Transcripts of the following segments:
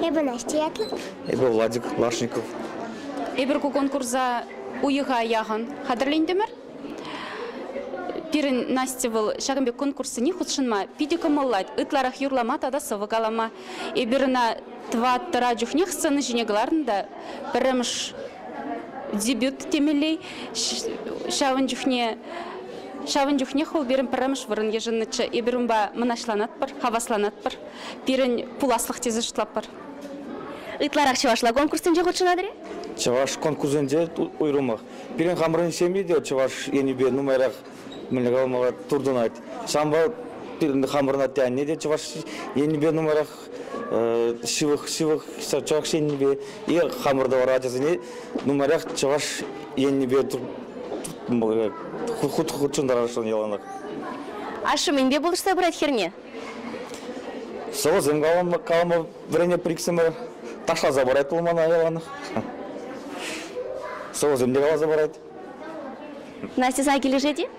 Эпӗ Настя ятлӑ. Эпӗ Владик Лашников. Эпир ку конкурса уйӑха яхӑн хатӗрлентӗмӗр. Пирӗн Настя вӑл ҫакӑн пек конкурссене хутшӑнма питӗ кӑмӑллать. Ытларах юрлама тата сӑвӑ калама. Эпир ӑна тӑваттӑра чухне сцена ҫине кӑларнӑ та пӗрремӗш дебют темелле. Ҫавӑн чухне Ҫавӑн чухнех вӑл пирӗн пӗрремӗш вырӑн йышӑннӑччӗ. Эпир унпа мӑнаҫланатпӑр, хавасланатпӑр, пирӗн пуласлӑх тесе шутлатпӑр. Ытларах чӑвашла конкурссенче хутшӑнатӑр-и? Чӑваш конкурсӗнче уйрӑмах. Пирӗн хамӑрӑн ҫемье те чӑваш енӗпе нумайрах мӗнле калама туртӑнать. Ҫавӑнпа пирӗн хамӑрӑн атте-анне те чӑваш енӗпе нумайрах ҫывӑх ҫывӑх чӑваш еннипе е хамӑр тӑвар ачасене нумаях чӑваш еннипе хутшӑнтарассӑн яланах. Ашшӗ мӗнпе пулӑшса пырать хӗрне? Сӑвӑсем калама, калама вӗренеп иксӗмӗр. Ташласа парать вӑл мана яланах. Сӑвӑсем те каласа парать. Настьӑна килӗшет-и?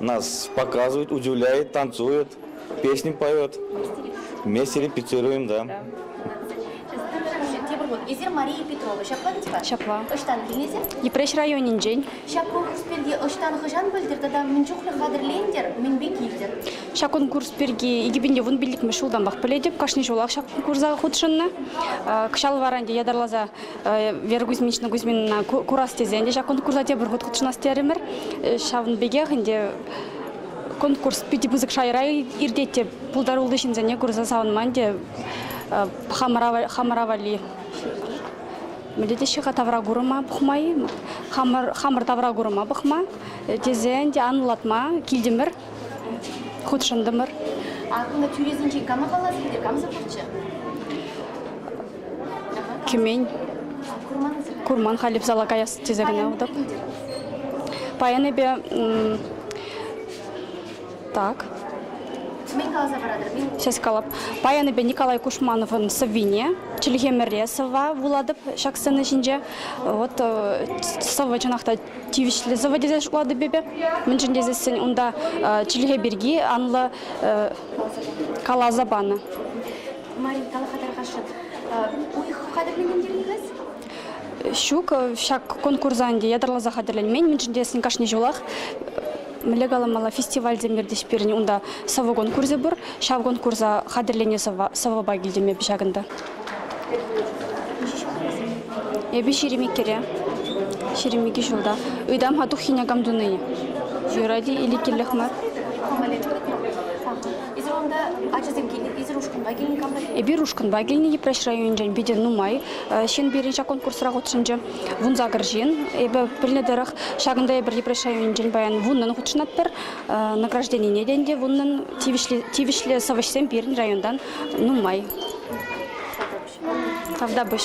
Нас показывает, удивляет, танцует, песни поет. Вместе репетируем, да. Эсир Мария Петрова. Ҫапла ведь-ха? Ҫапла. Ӑҫтан килнисем? Йӗпреҫ районӗнчен. Ҫак конкурс пирки ӑҫтан хӑҫан пӗлтӗр тата мӗн чухлӗ хатӗрлентӗр, мӗнпе килтӗр? Ҫак конкурс пирки икӗпин те вун пиллӗкмӗш ҫултанпах пӗлетӗп. Кашни ҫулах ҫак конкурса хутшӑннӑ. Кӑҫал вара ӗнтӗ ятарласа Вера Кузьминична Кузьминина курас тесен те ҫак конкурса тепӗр хут хутшӑнас терӗмӗр. Ҫавӑн пекех ӗнтӗ конкурс питӗ пысӑк шайра иртет те пултаруллӑ ҫынсене курса савӑнман те хамӑра валли. Мӗнле теҫҫӗ-ха тавра курӑма пӑхмай? Хамӑр, хамӑр тавра курӑма пӑхма тесен те анлатма килтӗмӗр, хутшӑнтӑмӑр. Акӑллӑ тӳресенчен кама калас килтӗр, камсӑр пурччӗ? кӗмен. Курман халипсала каяс тесе кӑна утӑп. Паян эпе так. Мӗн каласа паратӑр? Ҫас калап. Паян эпе Николай Кушмановӑн сӑввине чӗлхемӗре сӑвва вулатӑп ҫак сцена ҫинче. Вот э, сӑвӑ чӑнах та тивӗҫлӗ сӑвӑ тесе шутлатӑп эпӗ. Мӗншӗн тесессӗн унта э, чӗлхе пирки анлӑ э, каласа панӑ. Марин, кала-ха, тархасшӑн, уйӑх хатӗрленмен терӗн-ха Ҫук, ҫак конкурса ӗнтӗ ятарласа хатӗрленмен, мӗншӗн тесен кашни ҫулах мӗнле каламалла фестивальсем иртӗҫ пирӗн. Унта сӑвӑ конкурсӗ пур. Ҫав конкурса хатӗрленӗ сӑвва, сӑвӑпа килтӗм эпӗ ҫакӑнта. Эпӗ ҫирӗм иккӗре. Ҫирӗм икӗ ҫулта. Ыйтам-ха туххине кам туни. Юрать-и или кирлех мар? Эсир унта ачасем килнӗ, эсир ушкӑнпа килнӗ, камра килнӗ? Эпир ушкӑнпа килнӗ, Йӗпреҫ районӗнчен питӗ нумай ҫын пирӗн ҫак конкурсра хутшӑнчӗ. Вунса кӗр ҫын. Эпӗ пӗлнӗ тӑрӑх, ҫакӑнта эпир Йӗпреҫ районӗнчен паян вуннӑн хутшӑнатпӑр. Награжденине те ӗнтӗ вуннӑн. Тивӗҫлӗ сӑвӑҫсем пирӗн районтан нумай. Тавтапуҫ.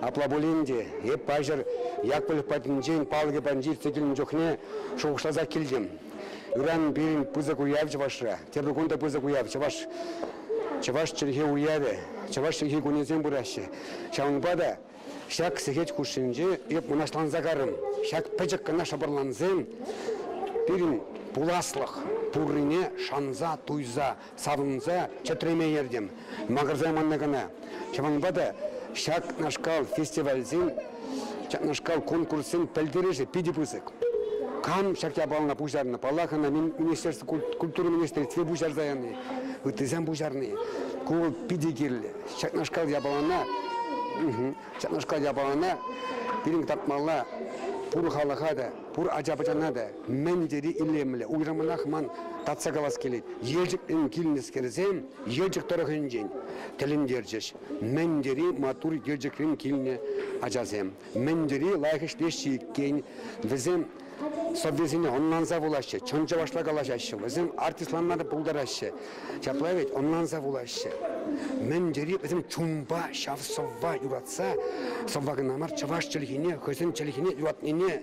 Апла пулин те эп паҫӑр Якпӑль патӗнчен палӑкӗ патӗнче иртсе килнӗ чухне шухӑшласа килтӗм. Ыран пирӗн пысӑк уяв чӑвашра. Тепӗр кун та пысӑк уяв чӑваш чӑваш чӗлхи уявӗ, чӑваш чӗлхи кунӗсем пыраҫҫӗ. Ҫавӑнпа та ҫак сехет хушшинче эп мӑнаҫланса карӑм. Ҫак пӗчӗк кӑна шӑпӑрлансем пирӗн пуласлӑх пуррине шанса, туйса, савӑнса чӗтреме ертӗм. Макӑрсайманни кӑна. Ҫавӑнпа та ҫакнашкал фестивальсен, ҫакнашкал конкурссен пӗлтерӗшӗ питӗ пысӑк. Кам ҫак япалана пуҫарнӑ? Паллах, ӑна министерство, культура министерстви пуҫарса яни, ыттисем пуҫарни. Ку вӑл питӗ кирлӗ. Ҫакнашкал япалана, ҫакнашкал япалана пирӗн татмалла пур халӑха та, пур ача-пӑчана та. Мӗн тери илемлӗ, уйрӑмах ман татса калас килет, Елчӗкрен килнӗскерсем Елчӗк тӑрӑхӗнчен тӗлӗнтерчӗҫ. Мӗн тери маттур Елчӗкрен килнӗ ачасем, мӗн тери лайӑх ӗҫлеҫҫӗ иккен вӗсем. Сӑввисене ӑнланса вулаҫҫӗ, чӑн чӑвашла калаҫаҫҫӗ, вӗсем артистланма та пултараҫҫӗ. Ҫапла вӗт, ӑнланса вулаҫҫӗ. Мӗн тери вӗсем чунпа ҫав сӑвва юратса, сӑвва кӑна мар, чӑваш чӗлхине, хӑйсен чӗлхине юратнине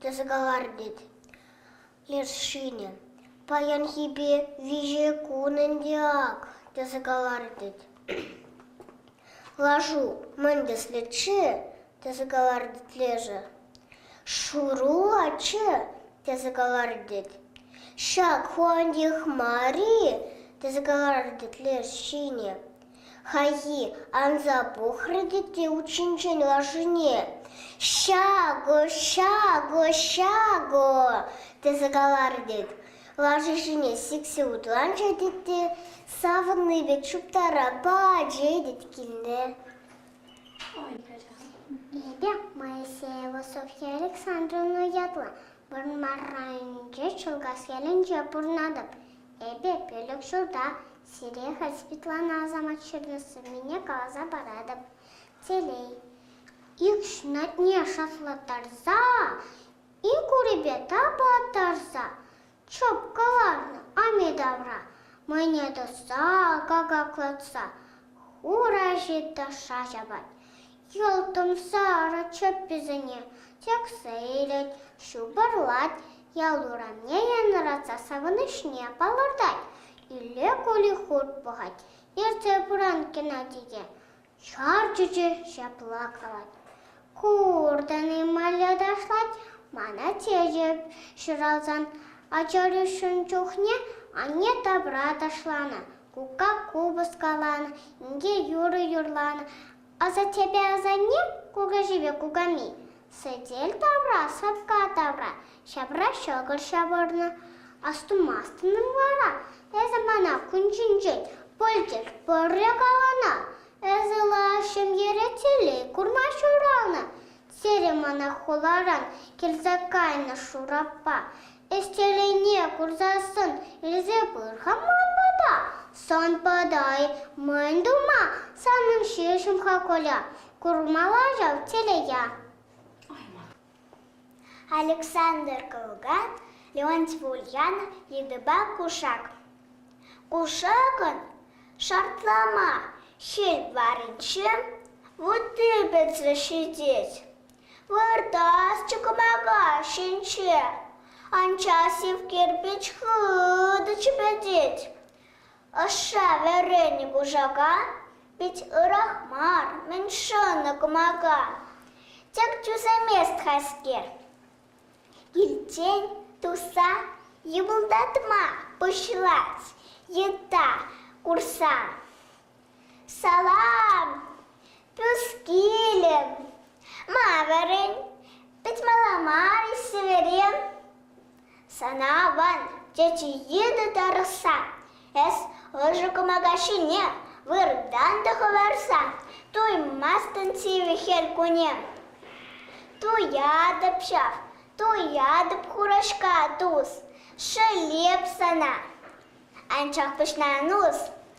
тесе каларӗ леш ҫынӗ. Паянхипе виҫӗ кун ӗнтӗ ак, тесе каларӗ Лашу мӗн тӗслӗччӗ? тесе каларӗ лешӗ. Шуру аччӗ, тесе каларӗ Ҫак ху антих мар-и? тесе каларӗ леш ҫынӗ. Хайхи анса пӑхрӗ те те ут ҫинчен лашине: «Ҫакӑ, ҫакӑ, ҫакӑ!» тесе каларӗ тет. Лаши ҫине сиксе утланчӗ тет те савӑнни пек чуптара пачӗ тет килне. Ой, Лидия Моисеева Софья Александровна ятлӑ. Вырмар районӗнчи Чулкас ялӗнче пурӑнатӑп. Эпӗ пилӗк ҫулта Сире хӑть Светлана Асамат ҫӗрлесене каласа паратӑп. Телей. Икшнатне шатлаттарса, инкурипе тапаттарса чоп кӑларнӑ ами тавра мӑйне тӑсса, какаклатса хура ҫиtta шаҫ апат Йӑлтӑмса ара чӗпписене тӗксе илет, ҫупӑрлать, ял урамне янӑратса савӑнӑҫне палӑртать. Илле кули хурт пӑхать, ертсе пыран Геннадике чар чӳчӗ ҫапла калать. Куртӑн-и малля ташлать, мана чечӗп, ҫуралсан ачӑрӳшӗн чухне анне тапра ташланӑ, кукка купӑс каланӑ, инке юрӑ юрланӑ, Асаттепе асанне, кукаҫипе кукамми сӗтел тавра, сапка тавра ҫапра ҫӑкӑр ҫавӑрнӑ. Астумастӑн-им вара эсӗ мана кун ҫинчен пӗлтӗр пӗрре каланӑ? Эсӗ лаш ҫемьере телей курма ҫуралнӑ. Сире мана хуларан килсе кайнӑ Шураппа Ӗҫчелӗхне курсассӑн илсе пыр-ха ман пата. Сан пата-и? Мӗн тума? Санӑн ҫеҫ-им-ха Коля? Курмалла ҫав телея. Александр Кылган, Леонтьев Ульянов йытӑпа кушак. Кушакӑн шартлама ҫил варринче вутти пӗтсе ҫитет. Выртасчӗ кӑмака ҫинче, анчах сив кирпӗч хытӑ чӗпӗтет. Ӑшша вӗренӗ кушака пит ырах мар, мӗн шӑнӑ кӑмака. Тек тӳсемест хайскер. Килтен туса йӑпӑлтатма пуҫлать йытта курсан. Салам! Пӳскилӗм. Ма вӗрен? Пӗтмалла мар-и сӗверем? Сана аван, тече йытӑ тарӑхса, эс ӑшӑ кӑмака ҫине выртан та хӑварса туймастӑн сивӗ хӗл кунӗ. Туятӑп ҫав, туятӑп хураҫка тус, шелеп сана. Анчах пуҫна нус,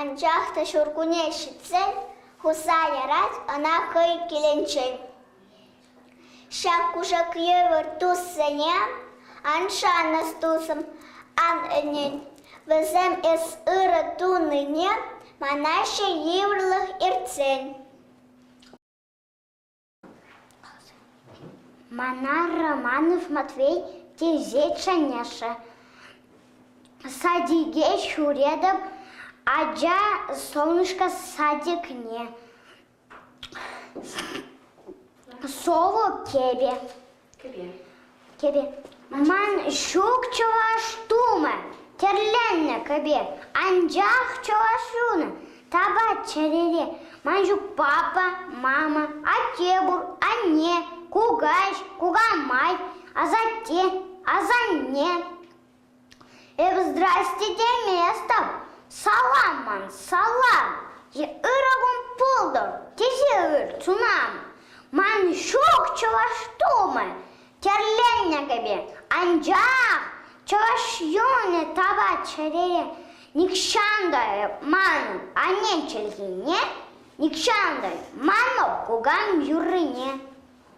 Анчах та ҫуркунне ҫитсен хуса ярать ӑна хӑй килӗнчен. Ҫак кушак евӗр туссене ан шанӑр тусӑм, ан ӗнен. Вӗсем эс ырӑ тунине манаҫҫӗ йывӑрлӑх иртсен. Мана Романов Матвей тесе чӗнеҫҫӗ. Садике ҫӳретӗп, ача солнышко садикне. Сӑвӑ кӗвӗ. Кӗпе. Кӗпе. Ман ҫук чӑваш тумӗ тӗрленнӗ кӗпе, анчах чӑваш юнӗ тапать чӗрере. Ман ҫук папа, мама, атте пур, анне, кукаҫ, кукамай, асатте, асанне. Эпӗ здрасте теместӗп, салам ман, салам, е ырӑ кун пултӑр, тесе ыр сунам. Ман ҫук чӑваш тумӗ тӗрленнӗ кӗпе, анчах чӑваш юнӗ тава чӗрере нихҫан та манӑн анне чӗлхине, нихҫан та манӑп кукам юррине.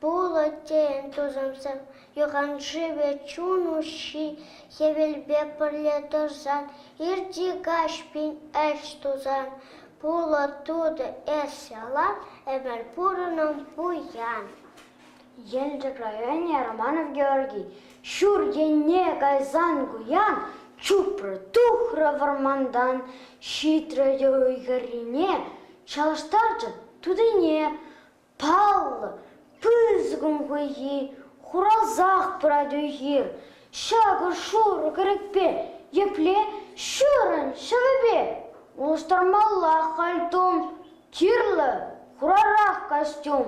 Пулӑ тейӗн тусӑмсем, юханшывӗ чун уҫҫи хӗвелпе пӗрле тӑрсан, ирти каҫ пин ӗҫ тусан, пулӑ тутӑ эс ялан ӗмӗр пурӑнӑн пуян. Елчӗк районӗ Романов Георгий ҫур енне кайсан куян чупрӗ, тухрӗ вӑрмантан, ҫитрӗ те уй хӗррине, чалӑштарчӗ тутине. Паллӑ пысӑкӑн хуйхи, хурасах пырать уй-хир. Ҫакӑр-шурӑ кӗрӗкпе, епле ҫырӑн ҫӑвӗпе улӑштармаллах кальтум, кирлӗ хурарах костюм.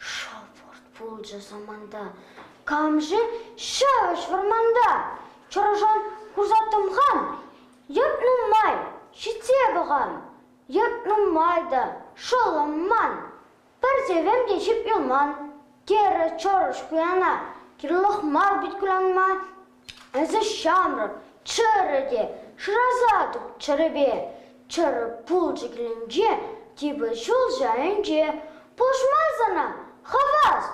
Шӑпӑрт пулчӗ саманта, камши ҫавӑҫ вӑрманта. Чӑрӑшан хурса тӑмхан, йӑт нумай ҫитсе пӑхан. Ят нумай та шӑллӑм ман, пӗр сӗвем те ҫип юлман, терӗ Чӑрӑш Куяна. Кирлех мар пит кулянма, эсӗ ҫамрӑк, чӗрӗ те шыраса тупчӑрӗпе. Чӗрӗ пылчӑкӗнче типӗ ҫул ҫайӗнче пулӑшма сана хавас.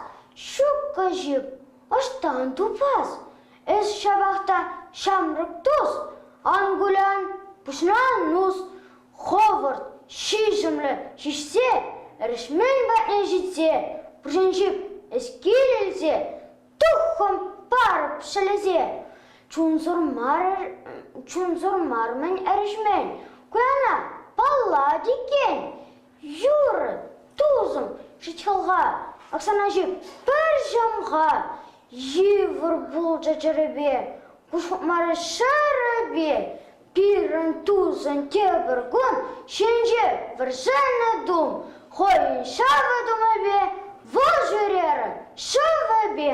Ҫуккӑ ҫип, ӑҫтан тупас? Эс ҫапах та ҫамрӑк тус, ан кулян, пуҫна нус, хӑвӑрт, ҫиҫӗмлӗ ҫиҫсе, эрешмен патне ҫитсе, пуҫӗнчи эскил илсе, туххӑм парӑп ҫӗлесе. Чунсӑр мар-мӗн эрешмен, куяна паллать иккен. Юр, тусӑм, ҫичхӑлха, Оксана ҫук, пӗр ҫӑмха. Йывӑр пулчӗ чӗрепе, Куҫ хупмарӗ ҫӗрӗпе. Пирӗн тусӑн тепӗр кун Ҫинҫе вӗрсеннӗ тум, Хӑйӗн ҫавӑ тумӗпе, Вӑл ҫӳрерӗ ҫӑвӗпе.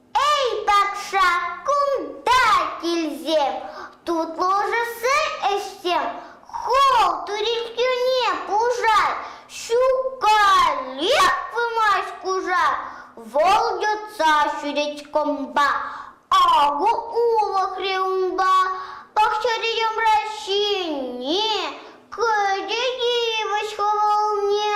Эй, патша, кунта килсем, тутлӑшӑсси ӗҫсем, хол туриккӳне пушар, ҫукаллех пымасть кушак, вӑл йӑтса ҫӳрет кӑмпа, акӑ улӑхрӗ унпа, пахчари йӑмра ҫине кӗтӗ йывӑҫ хӑвӑлне.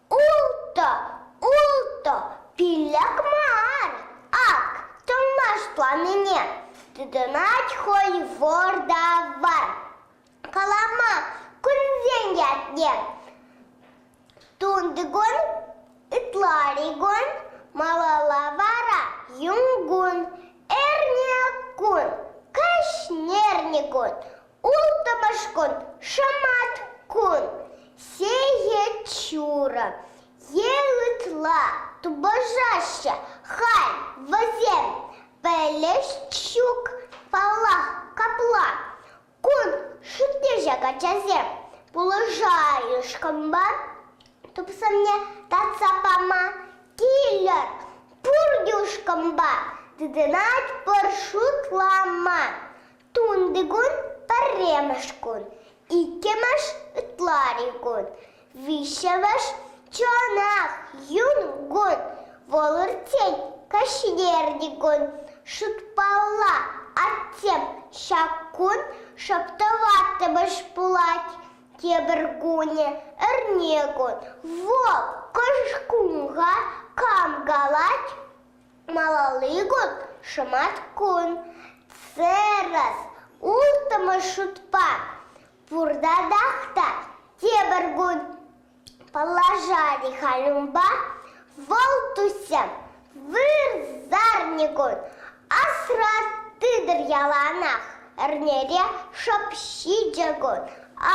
Ултӑ, ултӑ, пиллӗк мар. Ак, тӑнлаш планине тытӑнать хӑй вӑр-та-вар. Калама кунсен ятне тунтикун, ытларикун, малалла вара юнкун, эрне кун, кӗҫнерникун, Улттӑмӗш кун шӑмат кун, сехет ҫурӑ. Е ытла тупӑшаҫҫӗ халь вӗсем пӗлӗш ҫук паллах капла. Кун шутнеҫак ачасем пулӑшайышкӑнпа тупсӑмне татса пама килӗр, пур юшкӑнпа тытӑнать пӑр шутлама. Тунти кун пӗрремӗш кун, иккӗмӗш ытлари кун, виҫҫӗмӗш чӑнах юн кун. Вӑл иртсен каҫхине кун шутпалла атсем ҫак кун шӑп тӑваттӑмӗш пулать. Тепӗр кунӗ эрне кун. Вӑл кӑшкунга кам калать? Малалли кун шӑматкун. Церас улттӑмӗш шутпа пуртатах та тепӗр кун. Положани халюмпа вӑл туссем вырсарникун асрас тытӑр яланах эрнере шӑп ҫичӗ кун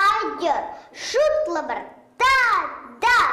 айтӑр шутлӑпӑр татах.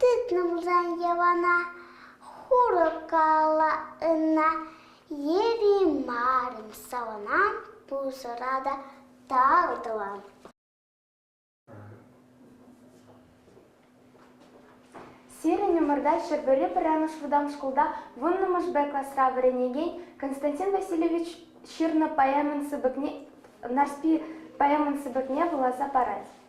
Тытнӑ пулсан йӑвана, Хурӑ кала ӑна, Еримарӑн савӑнам Пусӑра та тал тӑвам. Сирӗн ӑмӑрта Ҫӗрпӳри пӗрремӗш вӑтам шкулта вуннӑмӗш Б класра вӗренекен Константин Васильевич ҫырнӑ поэмӑн сыпӑкне Нарспи поэмӑн сыпӑкне вуласа парать.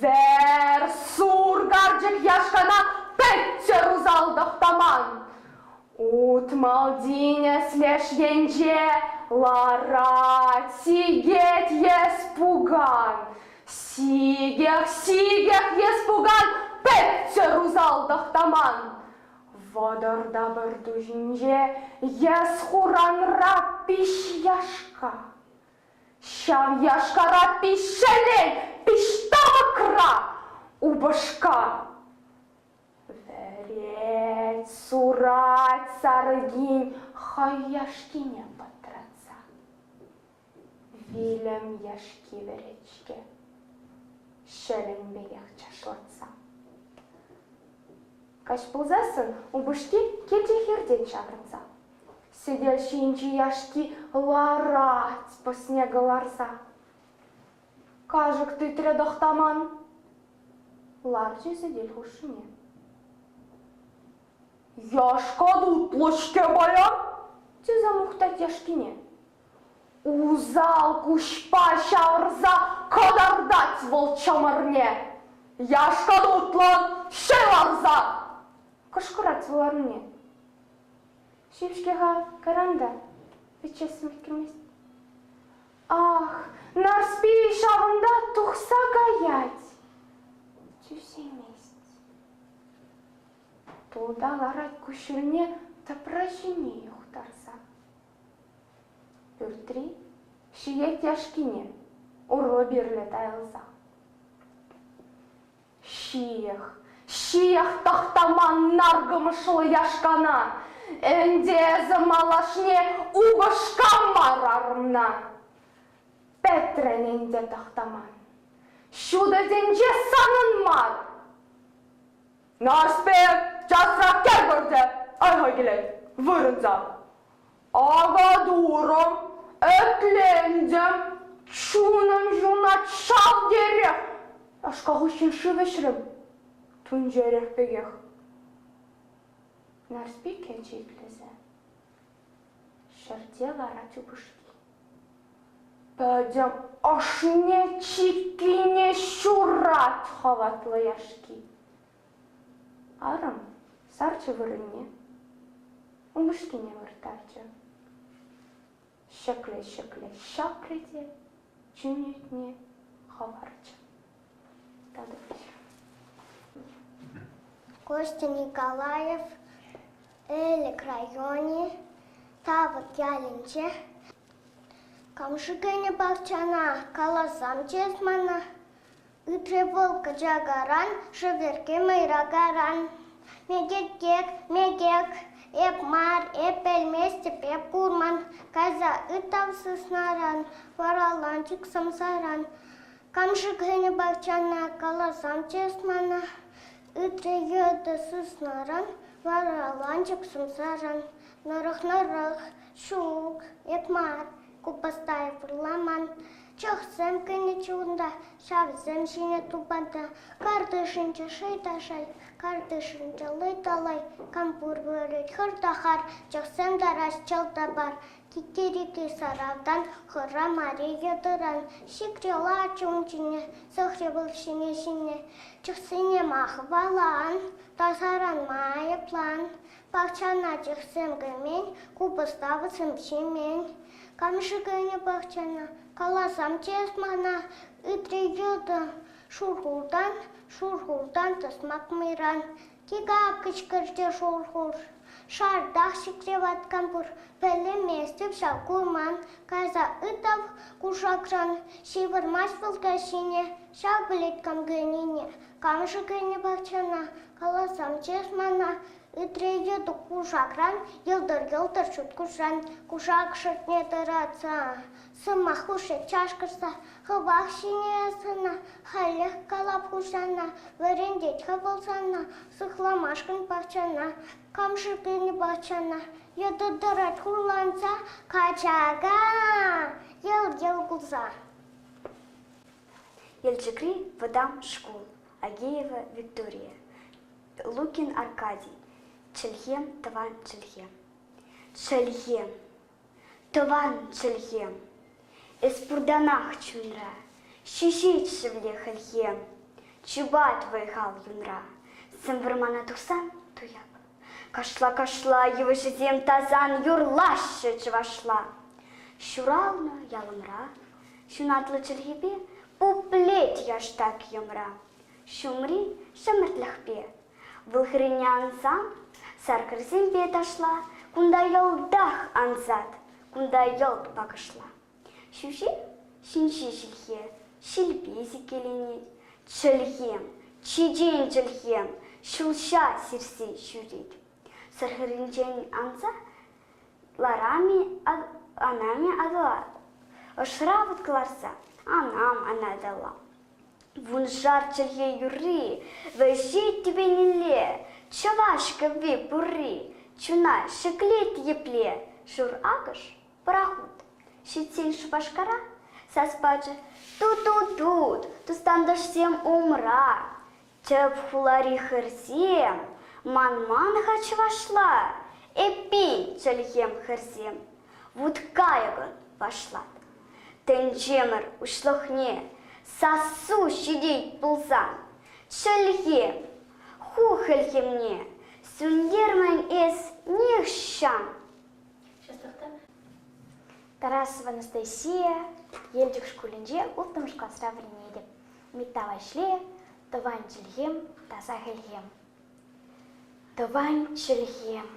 Вер-сур карчӑк яшкана пӗччӗр усал тӑхтаман. Ут Малтинес леш енче ларать, сикет ес пукан. Сикех, сикех ес пукан, пӗччӗр усал тӑхтаман. Вӑтӑр та пӗр ту ҫинче ес хуранра пиш яшка. Ҫав яшкара пиҫҫӗлен пиҫтапӑкра упӑшка. Вӗрет, сурать сарӑкин хӑй яшкине пӑтратса. Вилӗм яшки вӗрет-ҫке, ҫӗленпех чашлатса. Каҫ пулсассӑн упӑшки килти хиртен ҫаврӑнса Сӗтел ҫинчи яшки ларать снега ларса. Кашӑк тытрӗ тӑхтаман. Ларчӗ сӗтел хушшине. Яшка тутлӑ-ҫке пая, тесе мухтать яшкине. Усал куҫпа ҫавӑрса кӑтартать вӑл чӑмӑрне. Яшка тутлӑн ҫӑй ларса кӑшкӑрать вӑл анне. Ҫил-ҫке-ха, кӑранта. Ӗҫесем ӗлкӗрмест. Ах, Нарспи ҫавӑнта тухса каять. Тӳсеймест. Тулта ларать куҫҫульне тӑпра ҫине юхтарса. Пӳртри ҫиет яшкине урлӑ-пирлӗ тайӑлса. Ҫиех, ҫиех тӑхтаман наркӑмӑшлӑ яшкана. Ӗнтӗ эсӗ малашне упӑшка мар арӑмна. Пӗтрӗн ӗнтӗ тӑхтаман. Ҫутӑ тӗнче санӑн мар. Нарспи часрах кӗр пыртӗ, айва килет, вырӑнса. Авадурӑм ӗтлентӗм, чунӑм ҫунать шалтерех. Ашка хыҫҫӑн шыв ӗҫрӗм, тунчерех пекех. Нарспи кӗчӗ итлесе, ҫӗрте ларать упӑшки. Пӗтӗм ӑшне чиккине ҫурать хаватлӑ яшки. Арӑм сарчӗ вырӑнне, упӑшкине вырттарчӗ. Ҫӗкле-ҫӗкле ҫапрӗ те чӳнетне хӑварчӗ. Татӑлчӗ. Костя Николаев Элӗк районӗ Тавӑт ялӗнче. Кам-ши кӗнӗ пахчана каласам чес мана. Ыйтрӗ вӑл кӑчакаран, шӗверкке мӑйракаран. Мекек-кек, мекек, эп мар, эп пӗлместӗп, эп курман. Кайса ытам сыснаран, вараланчӑк сӑмсаран. Кам-ши кӗнӗ пахчана, каласан чес мана. Ыйтрӗ йытӑ сыснаран, вараланчӑк сӑмсаран. Нӑрӑх-нӑрӑх, ҫук, эп мар, Купӑстаев вырламан, чӑхсем кӗнӗччӗ унта, ҫавсем ҫине тупата. Картишӗнче шӑй та шӑй, картишӗнче лӑй та лӑй, кампур вырӑт, хыр та хар, чӑхсем тарас чӑл та пар. Китерики саратан, хырра мари йӑтӑран, сикре лач ун ҫине, сӑхри вӑл ҫине ҫине. Чӑхсене махвалан, тасаранма айӑплан, Пахчана чӑхсем кӗмен, купӑста вӗсем ҫимен. Кам-ши кӗнӗ пахчана? Каласам тес мана, ыйтрӗ йытӑ. Шурхултан, шурхултан тӑсмак мӑйран. Тига кӑчкӑрчӗ шурхур. Шартах чикре ваткан пур, пӗлместӗп ҫав курман. Кайса ытав кушакран, ҫывӑрмасть вӑл каҫине. Ҫав пӗлет кам кӗнине. Кам-ши кӗнӗ пахчана? Каласамччӗ эс мана, ыйтрӗ Ютук кушакран, йӑлтӑр-йӑлтӑр ҫут куҫран. Кушак шутне тӑратса, сӑмах хушши чашкӑрса, хӑвах ҫине сана, халех калап хуҫана, вӗрентет-ха вӑл сана, сыхламашкӑн пахчана, кам-ши пенӗ пахчана, йытӑ тӑрать хурланса, качака, йӑл-йӑл кулса. Елчӗкри вӑтам шкул. Агеева Виктория, Лукин Аркадий, чӗлхем, тӑван чӗлхем. Чӗлхем, тӑван чӗлхем. Эс пуртанах чунра, ҫиҫет шевле хӗлхем. Чупать вӑй-хал юнра, сӗм вӑрмана тухсан туяп. Кашла-кашла йывӑҫӗсем тасан юрлаҫҫӗ чӑвашла. Ҫуралнӑ ялӑмра ҫунатлӑ чӗлхепе пуплет яштак йӑмра. Ҫумри ҫӗмӗртлӗхпе вӑл хӗрӳне ансан саркӑрсемпе ташла кунта йӑлтах ансат, кунта йӑлт пакӑшла. Ҫӳҫе ҫинҫе ҫилхе, ҫилпе сиккеленет. Чӗлхем, чечен чӗлхем, ҫулҫа сирсе ҫӳрет. Сӑрхӗрӗнчен анса анамӗ аталанать. Ӑшра вут кӑларса анам анаталла. Вуншар чӗлхе юрри, вӗҫет тӗпенелле. Чӑваш кӗвви пурри, чуна ҫӗклет епле. Шур акӑш Пӑрахут. Ҫитсен Шупашкара сас пачӗ. Ту-ту-тут, тус-тантӑшсем умра. Тӗп хулари хӗрсем, манман-ха чӑвашла. Эппин, чӗлхем хӗрсем, вут-кайӑкӑн вашлат. Тӗнчемӗр уҫлӑхне сассу ҫитет пулсан, чӗлхем, ху хӗлхемне сӳнтермӗн эс нихҫан. Час тӑхта. Тарасова Анастасия Елчӗк шкулӗнче улттӑмӗш класра вӗренетӗп. Митта Ваҫле, тӑван чӗлхем, таса хӗлхем. Тӑван чӗлхем,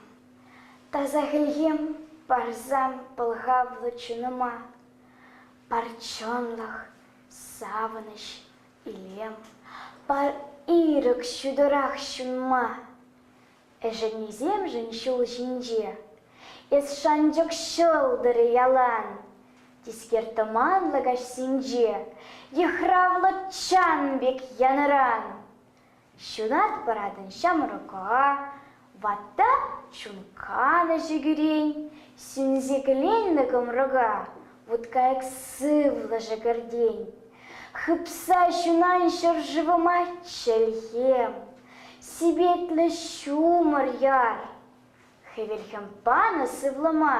таса хӗлхем парсан пӑлхавлӑ чунӑма парчӑнлӑх, савӑнӑҫ, илем, пар ирӗк ҫутӑрах ҫунма, Ӗшеннисемшӗн ҫул ҫинче эс шанчӑк ҫӑлтӑрӗ ялан. Тискер тӑманлӑ каҫсенче йыхравлӑ чан пек янӑран. Ҫунат паратӑн ҫамрӑка, ватта чун канӑҫӗ кӳрен. Сӳнсе кӗленнӗ кӑмрӑка вуткайӑк сывлӑшӗ кӗртен. Хыпса ҫунан ҫӗршывӑма чӗлхем. Сипетлӗ ҫумӑр яр. Хӗвелхӗм панӑ сывлӑма,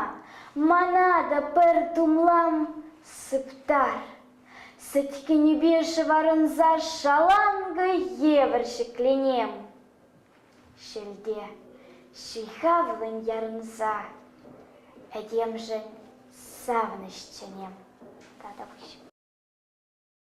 Мана та пӗр тумлам сыптар. Сӗткенӳпе шӑварӑнса шаланкӑ евӗр ҫӗкленем. Шелте ҫыхавлӑн ярӑнса Этемшӗн савӑнӑҫ чӗнем. Татапуҫ.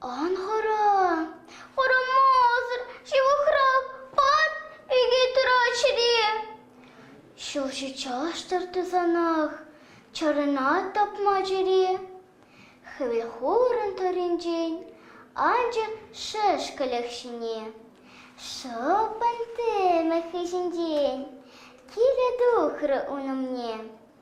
Ан хӑра, хӑрамасӑр ҫывӑхрах пат ӳкет ыраччӗре. Ҫулҫи чаштӑр тӑсанах чарӑнат тапма чӗре. Хӗвел хурӑн тӑрринчен анчӑр шӗшкӗлӗх ҫине. Шӑппӑн тӗмӗ хыҫӗнчен киле тухрӗ ун умне.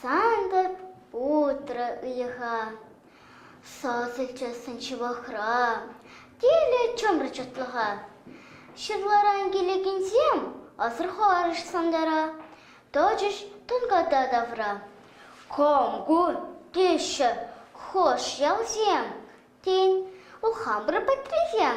Сантӑр путрӗ ыйӑха, сасӑлчӗ сӑнчӑвахра тилӗ чӑмӑр чӑтлӑха. Ҫырларан килекенсем асӑрхарӗҫ сантӑра, тӑчӗҫ тӑнката тавра. Кам ку? теҫҫӗ хӑш ялсем, тен, у хамӑр патрисем.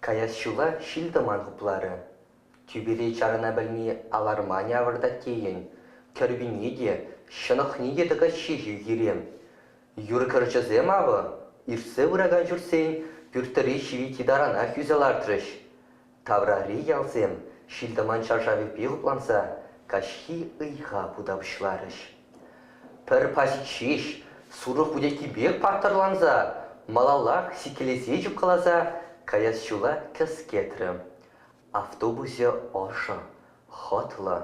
Каяс ҫула ҫил-тӑман хупларӗ. Тӳпери чарӑна пӗлми аларманӗ авӑртать тейӗн. Кӗркунне те, ҫӑнӑхне те тӑкаҫҫӗ-ши хире? Юр кӗрчӗсем, авӑ, иртсе пыракан ҫуртсен пӳртри ҫивитти таранах ӳсӗ лартрӗҫ. Таврари ялсем ҫил-тӑман шаршавӗпе хупланса каҫхи ыйха хута пуҫларӗҫ. Пӗр паҫик ҫеҫ сурӑх вутекки пек паттӑрланса, малаллах сиккелесе чупкаласа каяс ҫула кӗскетрӗ. Автобусӗ ӑшӑ, хӑтлӑ.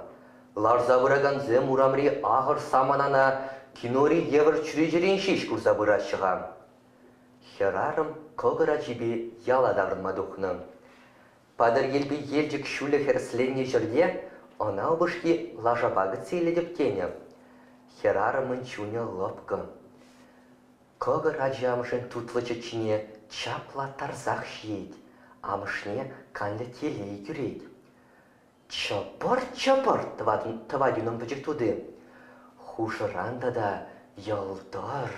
Ларса пыракансем урамри ахӑр саманана кинори евӗр чӳречерен ҫеҫ курса пыраҫҫӗ-ха. Хӗрарӑм кӑкӑр ачипе яла таврӑнма тухнӑ. Патӑрьелпи Елчӗк ҫулӗ хӗресленнӗ ҫӗрте ӑна упӑшки лашапа кӗтсе илетӗп тенӗ. Хӗрарӑмӑн чунӗ лӑпкӑ. Кӑкӑр ачи амӑшӗн тутлӑ чӗччине чаплаттарсах ҫиет, амӑшне канлӗ телей кӳрет. Чӑпӑр-чӑпӑр тӑвать унӑн пӗчӗк тути. Хушӑран тата йӑлтӑр,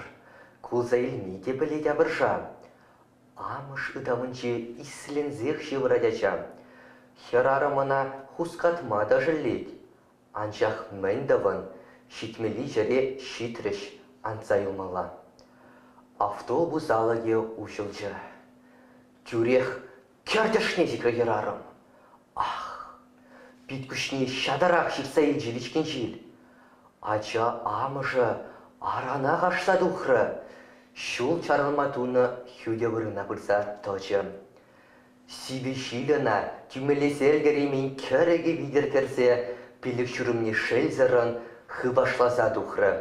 кулса илни те пӗлет апӑрша. Амӑш ытамӗнче исленсех ҫывӑрать ача. Хӗрарӑм ӑна хускатма та шеллет. Анчах мӗн тӑвӑн, ҫитмӗли ҫӗре ҫитрӗҫ, анса юлмалла. Автобус алӑкӗ уҫӑлчӗ. Тӳрех кӗртӗшне ҫитрӗ хӗрарӑм. Ах, Пит-куҫне ҫатӑрах ҫыртса илчӗ вичкен ҫил. Ача амӑшӗ аранах ашса тухрӗ, ҫул чарӑнма тунӑ хӳтӗ вырӑна пырса тӑчӗ. Сивӗ ҫил ӑна тӳмелесе ӗлкӗреймен кӗрӗкӗ витӗр кӗрсе пилӗк ҫурӑмне шелсӗррӗн хыпашласа тухрӗ,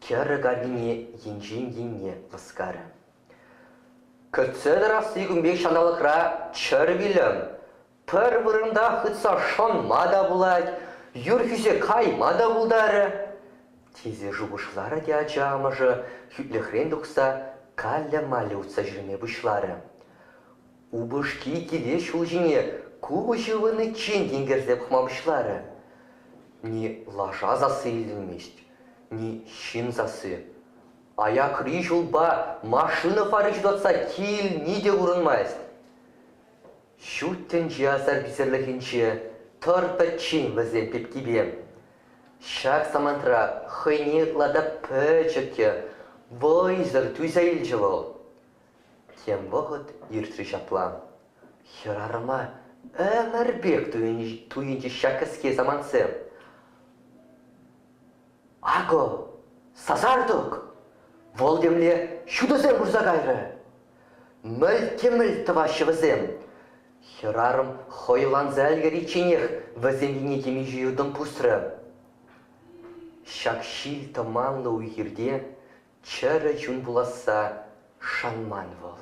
кӗрӗк аркине енчен енне лӑскарӗ. Кӗтсе тӑрасси кун пек ҫанталӑкра чӗр вилӗм, Пӗр вырӑнта хытса шӑнма та пулать, юр хӳсе кайма та пултарӗ, тесе шухӑшларӗ те ача амӑшӗ, хӳтлӗхрен тухса, каллӗ-маллӗ утса ҫӳреме пуҫларӗ. Упӑшки киле ҫул ҫине купӑс ывӑниччен тинкерсе пӑхма пуҫларӗ. Ни лаша сасси илтӗнмест, ни ҫын сасси. Аякри ҫулпа машина фари ҫутатса килни те курӑнмасть. Ҫут тӗнче асар-писерлӗхӗнче тӑр пӗччен вӗсен пепкипе. Ҫак самантра хӑйне ытла та пӗчӗк те вӑйсӑр туйса илчӗ вӑл. Тем вӑхӑт иртрӗ ҫапла. Хӗрарӑма ӗмӗр пек туйӑнчӗ ҫак кӗске самантсем. Акӑ, сасартӑк вӑл темле ҫутӑсем пырса кайрӗ. Мӗлт-те-мӗлт тӑваҫҫӗ вӗсем. Хӗрарӑм хӑйланса ӗлкӗричченех вӗсем енне темиҫе юртӑм пусрӗ. Ҫак ҫил тӑманлӑ уй-хирте Чӗрӗ чун пуласса шанман вӑл.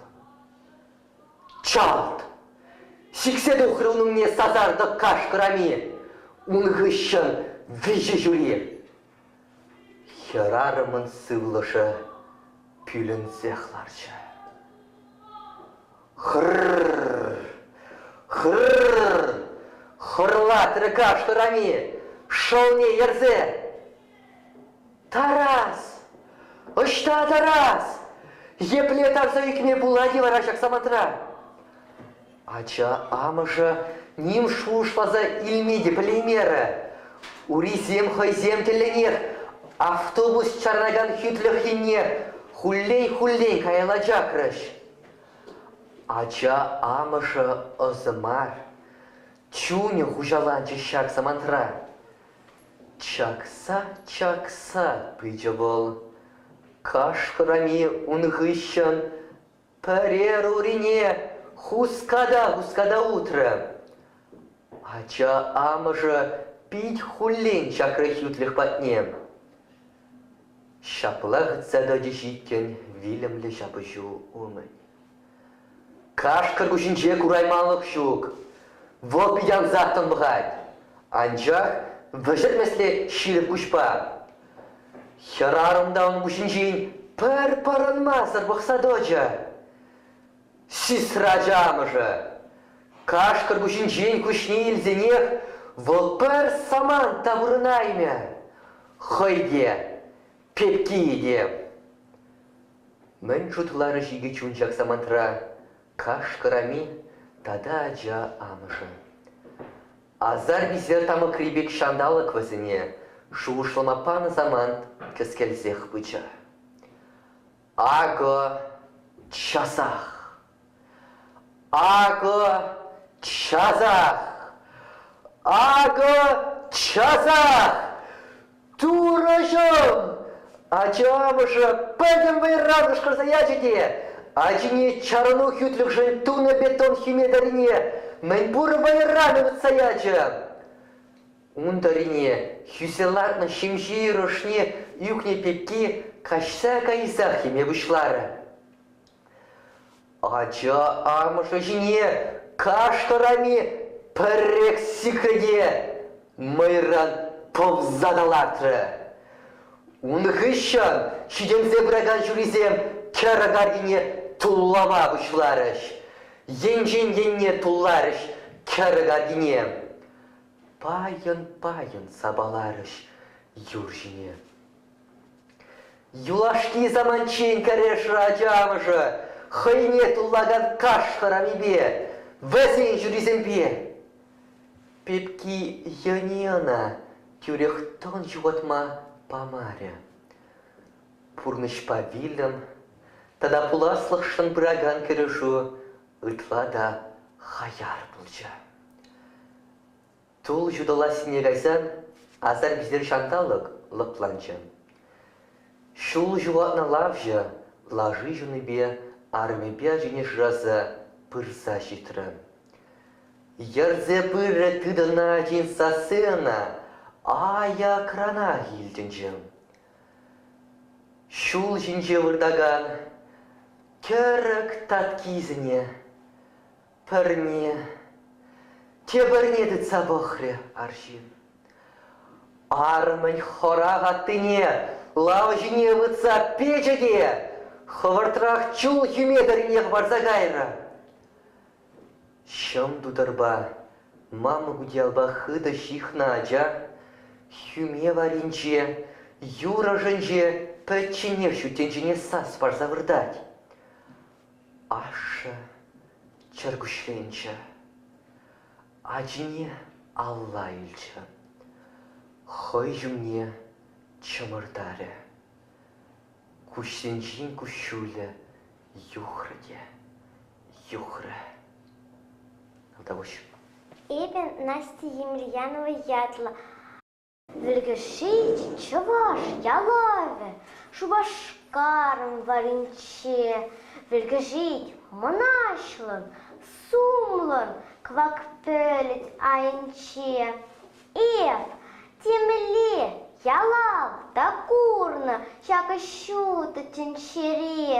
Чалт! Сиксе тухрӗ ун умне сасартӑк каш хӑрами. Ун хыҫҫӑн виҫӗ ҫури. Хӗрарӑмӑн сывлӑшӗ пӳлӗнсех ларчӗ. Хыр-р! Хыр-р! хӑрлатрӗ каш хӑрами, шӑлне ерсе. Тарас! Ӑҫта Тарас? Епле тарса ӳкме пулать-и вара ҫак самантра? Ача амӑшӗ ним шухӑшласа илме те пӗлеймерӗ. Урисем хӑйсем тӗллӗнех автобус чарӑнакан хӳтлӗх енне хуллен-хуллен каялла чакрӗҫ. Ача амӑшӗ ӑсӗ мар. Чунӗ хуҫаланчӗ ҫак самантра. Чакса-чакса пычӗ вӑл. Кашкӑрами ун хыҫҫӑн пӗрер урине хуската-хуската утрӗ. Ача амӑшӗ пит хуллен ҫакрӗ хӳтлӗх патне. Ҫапла хытса тӑчӗҫ иккен вилӗмлӗ ҫапӑҫу умӗн. Кашкӑр куҫӗнче курайманлӑх ҫук. Вӑл пит ансах тӑнлӑхать. Анчах вӗҫертмесле ҫирӗп куҫпа. Хӗрарӑм та ун куҫӗнчен пӗр пӑрӑнмасӑр пӑхса тӑчӗ. Сисрачӑ амӑшӗ. Кашкӑр куҫӗнчен куҫне илсенех вӑл пӗр самант та вырӑнаймӗ. Хӑй те, пепкийӗ те. Мӗн шутларӗҫ икӗ чун ҫак самантра? Кашкӑр-ами тата ача амӑшӗ. Асар-писер тамӑкри пек ҫанталӑк вӗсене шухӑшлама панӑ самант кӗскелсех пычӗ. Акӑ часах. Акӑ часах, акӑ часах турӑҫӑм! Ачамӑшӗ пӗтӗм вӑйран кӑшкӑрса ячӗ те ачине чарӑну хӳтлӗхшӗн тунӑ бетон хӗметӗрине мӗнпур вӑйран ывӑтса ячӗ. Ун тӑрине хӳсе лартнӑ ҫемҫе ӑшне ӳкнӗ пекки каҫса кайсах йӗме пуҫларӗ. Ача амӑшӗ ҫине каштӑрами пӗррех сикрӗ те мӑйран тӑвса та лартрӗ. Ун хыҫҫӑн ҫитӗнсе пыракан ҫурисем кӗрӗк аркине туллама пуҫларӗҫ. Енчен енне тулларӗҫ кӗрӗк аркине. Пайӑн-пайӑн сапаларӗҫ юр ҫине. Юлашки саманччен кӗрешрӗ ача амӑшӗ хӑйне туллакан каш хӑрамипе, вӗсен ҫурисемпе. Пепки йӑни ӑна тӳрех тӑн ҫухатма памарӗ. Пурнӑҫпа вилӗм тата пуласлӑхшӑн пыракан кӗрешӳ ытла та хаяр пулчӗ. Тул ҫутӑлассине кайсан асар-писер ҫанталӑк лӑпланчӗ. Ҫул ҫухатнӑ лавҫӑ лаши ҫунипе арӑмӗпе ачине шыраса пырса ҫитрӗ. Йӗрсе пыррӗ тытӑннӑ ачин сасси ӑна аякранах илтӗнчӗ. Ҫул ҫинче выртакан кӗрӗк таткисене Пӗрне, тепӗрне тытса пӑхрӗ арҫын. Арӑмӗн хӑрах аттине лава ҫине вытса печӗ те хӑвӑртрах чул хӳме тӑрринех парса кайрӗ. Ҫӑм тутӑрпа мамӑк утиялпа хытӑ ҫыхнӑ ача хӳме варринче, юр ӑшӗнче пӗчченех ҫут тӗнчене сас парса выртать. Ашшӗ чӗркуҫленчӗ. Ачине алла илчӗ. Хӑй ҫумне чӑмӑртарӗ. Куҫсенчен куҫҫулӗ юхрӗ те юхрӗ. Тавтапуҫ. Эпӗ Настя Емельянова ятлӑ. Вӗлкӗшҫи чӑваш ялавӗ Шупашкарӑн варӗнче вӗлкӗшет мӑнаҫлӑн, сумлӑн кӑвак пӗлӗт айӗнче. Эп темле ялав та курнӑ ҫакӑ ҫутӑ тӗнчере.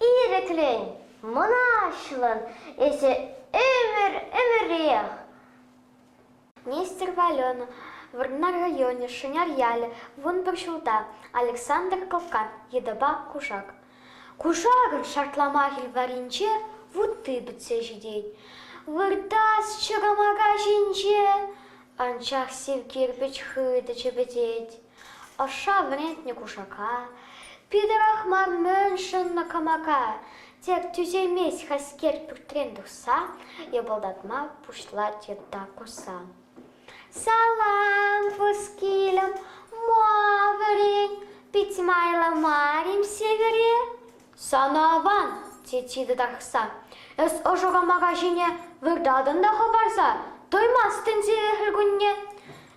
Ирӗклӗн, мӑнаҫлӑн, эсӗ ӗмӗр-ӗмӗрех. Нестер Валена, Вӑрнар районӗ, Шӑнар ялӗ, вун пӗр ҫулта, Александр Кокан, йытӑпа кушак. Кушакӑн шартламахӗ варринче вутти пӗтсе ҫитет. Выртас чӑкӑмака ҫинче анчах сив кирпӗч хытӑ чӗпӗтет. Ӑша вӗрентнӗ кушака, Питӗрах мар мӗн шӑннӑ кӑмака, Тек тӳсеймест хӗскер пӳртрен тухса, Йӑпӑлтатма пуҫлать йытта кусса. Салам, вускилӗм, ма вӗрен, Пит майлӑ марим сивӗре? Сана аван, тет тарӑхса, Эс ӑшӑ кӑмака ҫине Выртатӑн та хӑпарса, Тоймастӑн сире хӗл кунне.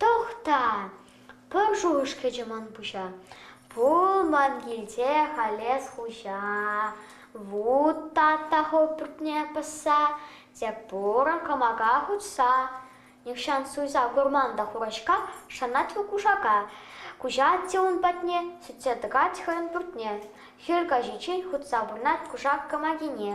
Тӑхта, пӗр шухӑш кӗчӗ ман пуҫа. Пулман килте халес хуҫа. Вут татта хӑв пӳртне пӑсса, тек пурӑн кӑмака хутса. Нихҫан суйса курман та хурачка, шанать вӑл кушака. Куҫать те ун патне, сӳтсе тӑкать хӑйӗн пӳртне. Хӗл каҫиччен хутса пурнать кушак кӑмакине.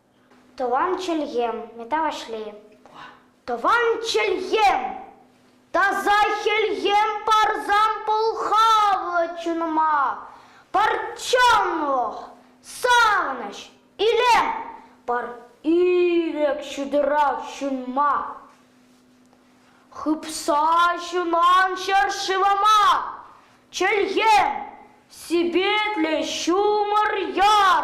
Тӑван чӗлхем, мета Ваҫлейӗ. Тӑван чӗлхем! Таса хӗлхем парсан пӑлхавӗ чунӑма. Пӗрчченлӑх, савӑнӑҫ, илем пар ирӗк ҫутӑрах ҫунма. Хыпса ҫунан ҫӗр-шывӑма. Чӗлхем, сипетлӗ ҫумӑр яр.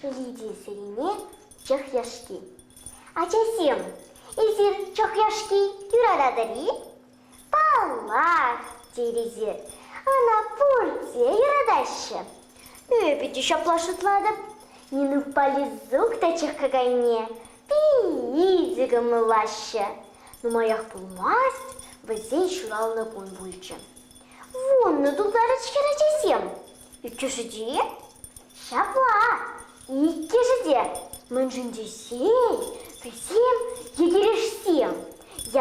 Ҫиди сирине чӑх яшки. Ачасем, эсир чӑх яшки юрататӑр-и? Паллах, терӗсӗр. Ӑна пурте юратаҫҫӗ. Эпӗ те ҫапла шутлатӑп. Нинукпа Лизук та чӑх какайне питӗ кӑмӑллаҫҫӗ. Нумаях пулмасть вӗсен ҫуралнӑ кун пулчӗ. Вуннӑ тултарӗҫ хӗр ачасем. Иккӗшӗ те? Ҫапла, иккӗшӗ те. Мӗншӗн тесен вӗсем йӗкӗрешсем.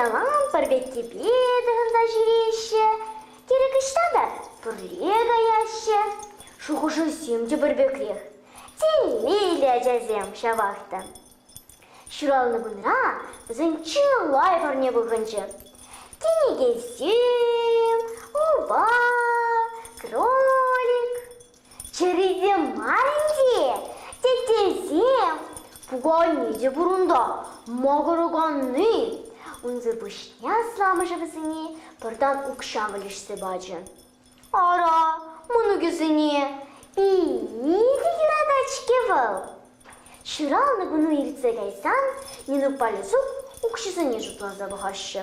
Ялан пӗр петтепе тӑхӑнса ҫӳреҫҫӗ, тӗрӗк ӑҫта та пӗрле каяҫҫӗ. Шухӑшӗсем те пӗр пекрех. Тенмелле ачасем ҫавах та. Ҫуралнӑ кунра вӗсен чылай парне пухӑнчӗ. Кӗнекесем, упа, кролик. Чӗрисем мар ӗнтӗ, теттесем. Пуканне те пур унта, макӑраканни. Унсӑр пуҫне асламӑшӗ вӗсене пӑртан укҫа вӗлешсе пачӗ. Ара, мӑнукӗсене питӗ юратать-ҫке вӑл. Ҫуралнӑ куну иртсе кайсан Нинукпа Лисук укҫисене шутласа пӑхаҫҫӗ.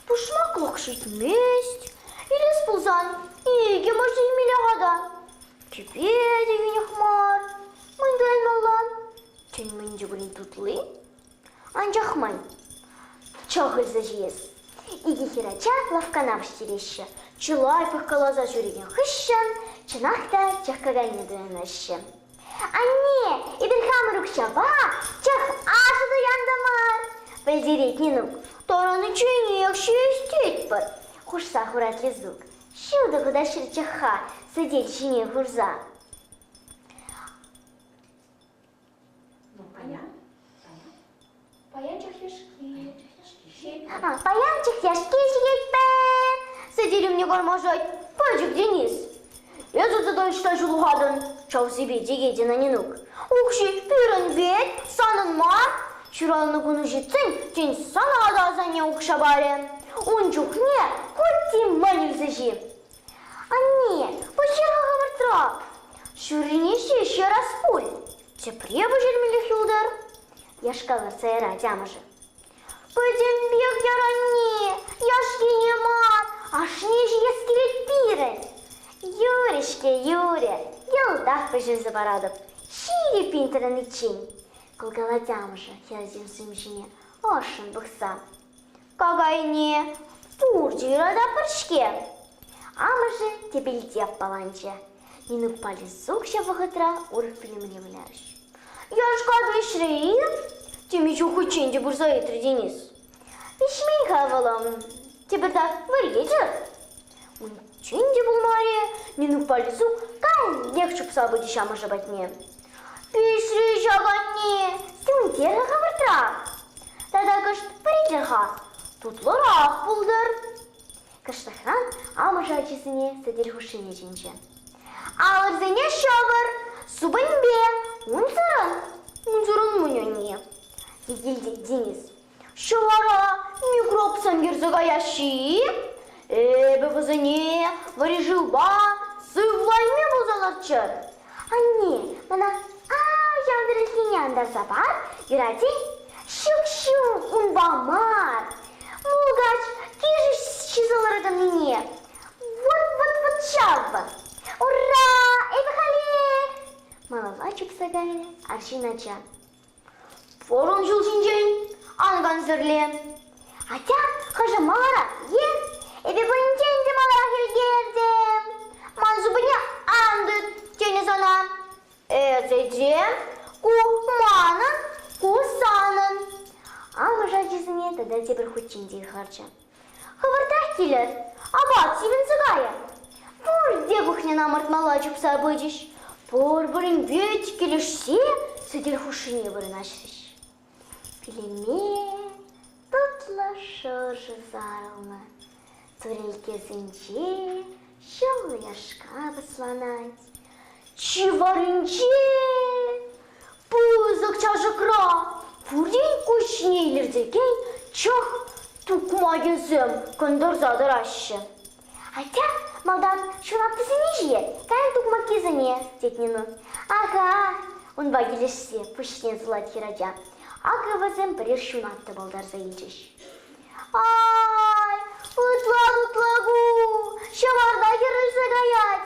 Пушмаклӑх ҫитмест. Илес пулсан икӗ мӑш илмелле-ха та. Тӳпе те йӳнех мар. Мӗн тӑваймалла? Тен, мӗн чухлӗ тутли? Анчах май чӑх илсе ҫиес. Икӗ хӗрача лавккана вӗҫтереҫҫӗ. Чылай пӑхкаласа ҫӳренӗ хыҫҫӑн чӑнах та чӑх кайне туянаҫҫӗ. Анне, эпир хамӑр укҫапа чӑх аҫӑ туянтӑмӑр. Пӗлтерет Нинук. Тарӑничченех ҫиестетпӗр, хушса хурать Лизук. Ҫутӑ хутаҫҫӗр чӑхха сӗтел ҫине хурса. Паян чӑхлешки. Паян чӑхлешки ҫиетпен. Сӗтелімне кармашать пӗчӗк Денис. Эсӗ тата ӑҫта ҫулхатӑн? Чавсипе текетӗн Анинук. Укҫи пирӗн вет, санӑн мар. Ҫуралнӑ куну ҫитсен, тен, сана та асанне укҫа парӗ. Ун чухне кутти мӗн илсе ҫи? Анне, пуҫҫаха хӑвӑртрах! Ҫуррине ҫеҫ ярас пуль. Тепре пӗҫермеллех юлтӑр, яшкалатса ярать амӑшӗ. Пӗтӗмпех яр, анне, яшкине мар, ашне ҫиес килет пирӗн. Юрӗ-ҫке, юрӗ, йӑлтах пӗҫерсе паратӑп. Ҫийӗ пин тӑраниччен, кӑлкалать амӑшӗ хӗрсем сум ҫине ӑшшӑн пӑхса. Какайне пур чура та пӗр-ҫке. Амӑшӗ тӗпелте аппаланчӗ. Нинукпа Лисук ҫав вӑхӑтра урӑх пӳлӗмне вылярӗҫ. Яшка вӗҫрӗ-и? Теме ҫухӑччен те пырса ыйтрӗ Денис. Виҫмен-ха вӑлам. Тепӗртак вӗренчӗр. Унччен те пулмарӗ, Нинукпа Лисук каллех чупса пычӗҫ амӑшӗ патне. Пӳҫри ҫапатне тӳнтерӗ-ха выртра. Тата кӑшт пӗринче-ха, тутлӑрах пултӑр. Кӑштахран амӑшӗ ачисене сӗтел хушшине чӗнчӗ. Алӑрсене ҫӑкӑр, супӑньпе, унсӑрӑн, унсӑрӑн унь-унне. Сехилте Денис Ҫӑвара микробсем кӗрсе каяҫҫӗ-и? Эпӗ вӗсене вӗри шывпа сывлайми пулсалӑрччӑр. Анне, мана янрӑххине антарса пар, юратет. Ҫык-ҫык унпа мар. Мулкач килӗшӳ ҫисе ларкӑннине. Вот-вот-вот ҫав. Ура, эпӗ халех! малалла чупса кайрӗ арҫын ача. Форум ҫул ҫинчен ан кансӗрле. Атя, хӑшӗ маларах е эпӗ пынинчен те маларах ӗлкӗртӗм. Ман супӑне ан тыт, тенӗ сана. Эсӗче ку манӑн, ку санӑн. Амӑш ачисене тата тепӗр хут ҫинчен харчӗ. Хӑвӑртах килӗр, апат сивӗнсе кайӗ. Пурте кухньӑна ӑмӑртмалла чупса пычӗҫ. Пурпӗрин вит килӗшсе сӗтел хушшине вырнаҫрӗҫ. Пӳлӗме тутлӑ шӑршӑ сарӑлнӑ. Турикесенче ҫӑл яшка пӑсланать. Чи варринче Пысӑк чашӑкра пурин куҫне илӗртекен чӑх тукмакӗсем кӑнтӑрса тӑраҫҫӗ. Атя, малтан ҫунаттисене ҫиет, кайӑн тукмаккисене, тет Нину. Ага, унпа килӗшсе пуҫне сулать хӗрача. Акӑ вӗсем пӗрех ҫунатта палтарса илчӗҫ. Ай, ытла-тутла ку, ҫӑварта хӗрелсе каять.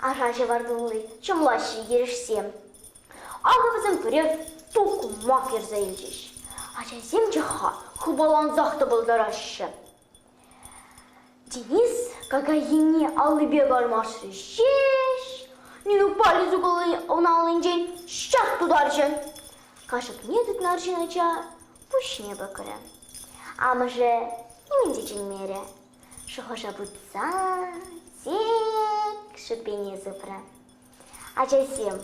Аша ҫӑвар тулли, чӑмлаҫҫӗ ентешсем. Акӑ вӗсем пӗрех тукмак ярса илчӗҫ. Ачасем те-ха хыпалансах тӑпӑлтараҫҫӗ. Денис какаййине аллипе кармашрӗ ҫеҫ. Нина палец укӑлне аллинчен ҫак тутарчӗ. Кашӑкне тытнӑ арҫын ача пуҫне пӗкрӗ. Амӑшӗ нимӗн те чӗнмерӗ. Шухӑша путсан сик шипене сыпрӗ. Ачасем,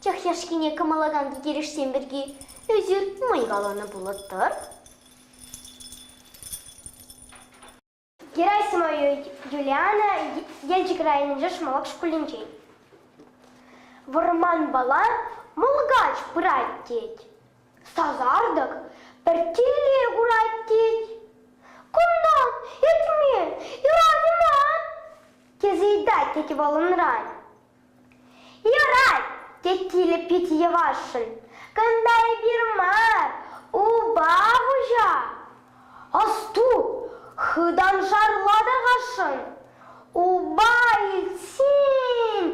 чӑх яшкине кӑмӑллакан килӗшсем пирки ӳсӗр мӑй каланӑ пулӑттӑр. Герасима Юлиана Елчӗк районӗнчи Шмалак шкулӗнчен. Вӑрманпала мулкач пырать тет. Сасартӑк пӗртте-ле курать тет. Кунта этме, юрать ма? тесе ыйтать тет вӑл унран. Юрать, тет килӗ пит йӑвашшӑн. Кунта эпир мар, упа хуҫа. Асту, хытаншарла та хашшӑн. Упа илтсен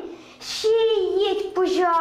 ҫиет пуҫа.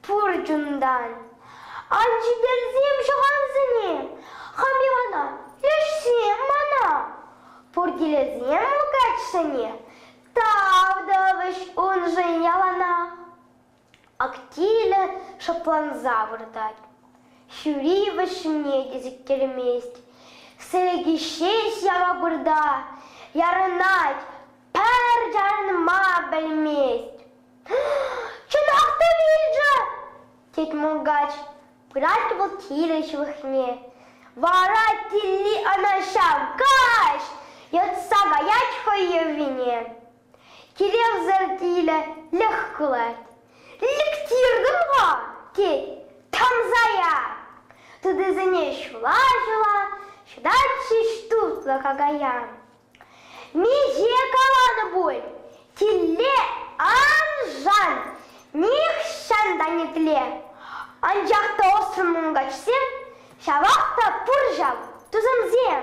Пур чунтан. Ан ҫитерсем ҫӑхансене, хам Ивана, лешсем мана. Пур килӗсем каччӑне, тав тӑвӗҫ уншӑн яланах. Ак тилӗ шӑпланса выртать, ҫури вӗҫне те сиктермест. Сӗлеки ҫеҫ яма вырта, ярӑнать, пӗр чарӑнма пӗлмест. чӑнах та вилчӗ, тет мулкач, пырать вӑл килӗ ҫывӑхне. Вара Тилли ӑна ҫав каҫ йӑтса каять хӑй йӑвине. Килевсӗр тилӗ кулать. Лектиртӗм-ха, тет, тӑмса ят. Тытисене ҫула-ҫула ҫӑтать ҫеҫ тутлӑ какаян. Миҫе каланӑ пуль, тилле аншан нихҫан та нетле. Анчах та ӑссӑн мункачсем ҫавах та пур ҫав тусӑмсем.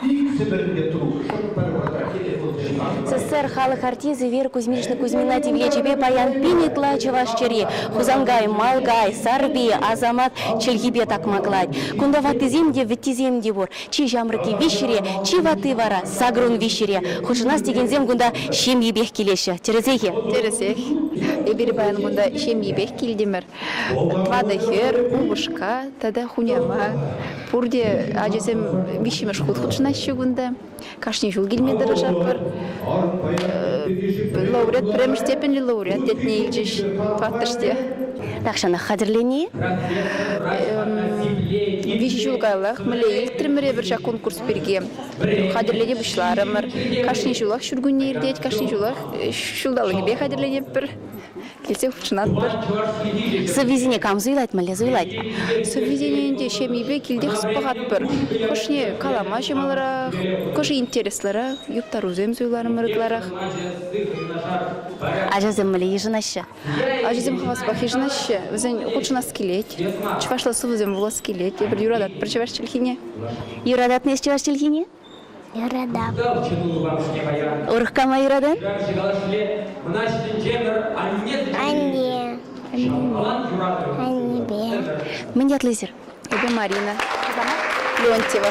Пит Сӗмӗрнӗ трук шӑп пӗр вӑта телефонсемпе. СССР халӑх артисчӗ Вера Кузьминична Кузьмина тивлечӗпе паян пин ытла чӑваш чӗри, Хусанкай, Малкай, Сарпи, Асамат чӗлхипе такмаклать. Кунта ваттисем те, вӗттисем те пур. Чи ҫамрӑкки виҫҫӗре, чи ватти вара, сакӑрун виҫҫӗре. Хутшӑнас текенсем кунта ҫемйипех килеҫҫӗ, тӗрӗсех-и? Тӗрӗсех. Эпир паян кунта ҫемйипех килтӗмӗр. Ватӑ хӗр, упӑшка тата хунява. Пурте ачасем виҫҫӗмӗш хут хутшӑнаҫҫӗ кунта. Кашни ҫул килме тӑрӑшатпӑр. Лауреат, пӗрремӗш степеньлӗ лауреат ятне илчӗҫ тӑваттӑш те. Тахҫанах хатӗрлени. Виҫ ҫул каялах мӗнле илтрӗмӗр эпир ҫак конкурс пирки. Хатӗрлеме пуҫларӑмӑр. Кашни ҫулах ҫуркунне иртет, кашни ҫулах ҫулталӑкӗпе хатӗрлетӗпӗр. Килсе хутшӑнатпӑр. Сӑввисене кам суйлать, мӗнле суйлать? Сӑввисене ӗнтӗ ҫемйипе килтех пӑхатпӑр. Хӑшне калама ҫӑмӑлрах, хӑшӗ интереслӗрех, юптарусем суйларӑмӑр ытларах. Ачасем мӗнле йышӑнаҫҫӗ? Ачасем хаваспах йышӑнаҫҫӗ. Вӗсен хутшӑнас килет. Чӑвашла сӑвӑсем вулас килет. Эпир юрататпӑр чӑваш чӗлхине. Юрататӑн эс чӑваш чӗлхине? Юратам. Урхкама юратан? Анне. Аннепе. Мӗн ятлисӗр? Эпӗ Марина. Леонтьева.